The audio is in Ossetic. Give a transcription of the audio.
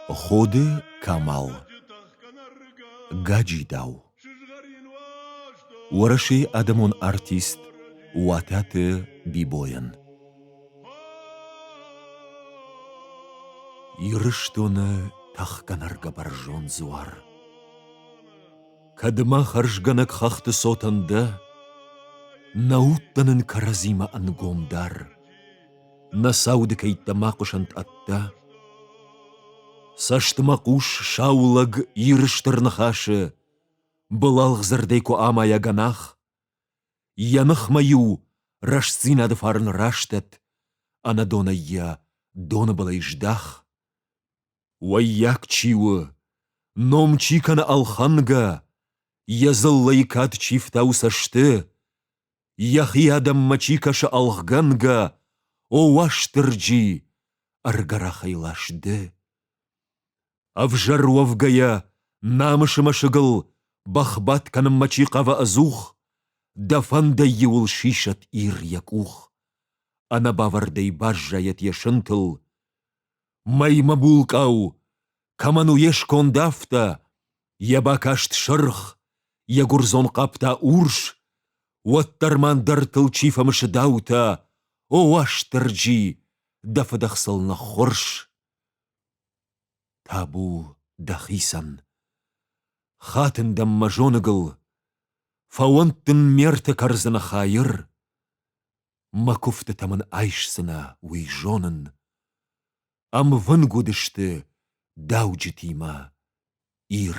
Ходы Камал Гаджидау Уӕрӕсейы адӕмон артист Уататы Бибойӕн Ирыстоны тӕхгӕнӕргӕ бӕрзонд дзуар Кӕд мӕ хӕрзгӕнӕг хӕхты цотӕн дӕ, Нӕ удтӕ нын кӕрӕдзимӕ ӕнгом дар. Нӕ сауды кӕйттӕ мӕ хъуысӕнт ӕддӕ. Цӕсты мӕ хъус сау лӕг Иры стыр ныхасы, Былалгъ дзырдӕй куы амайа гӕнах. Йӕ ныхмӕ-иу рӕстдзинады фарн растӕд, Ӕнӕдонӕй йӕ доны былӕй здах. Ваййаг чи у, ном чи кӕны ӕлхӕнгӕ, Йӕ дзыллӕйы кад чи фтауы цӕсты, Йӕхи адӕммӕ чи кӕсы ӕлгъгӕнгӕ, О, Уастырджи, ӕргӕрахӕй лас ды! Ӕвзӕр уӕвгӕйӕ, намысы мӕсыгыл Бӕхбадт кӕнынмӕ чи хъавы ӕдзух, Дӕ фӕндӕй иуыл сисӕд Ир йӕ къух. Ӕнӕбавӕрдӕй баззайӕд йӕ сынтыл. Мӕй мӕ булкъау, Кӕмӕн у йе сконд афтӕ, йӕ бакаст сырх, йӕ гуырдзон хъӕпта урс, уӕддӕр ма ӕндӕртыл чи фӕмысы даутӕ, о, Уастырджи, дӕ фыдых сыл ныххуырс. Табу дӕхицӕн! Хатын дӕм мӕ зоныгыл, фӕуӕнт дын ме рты кӕрдзыны хайыр, мӕ куывдтытӕ мын айсдзынӕ уый зонын. Ӕмвынг уыдысты дауджытимӕ Ир.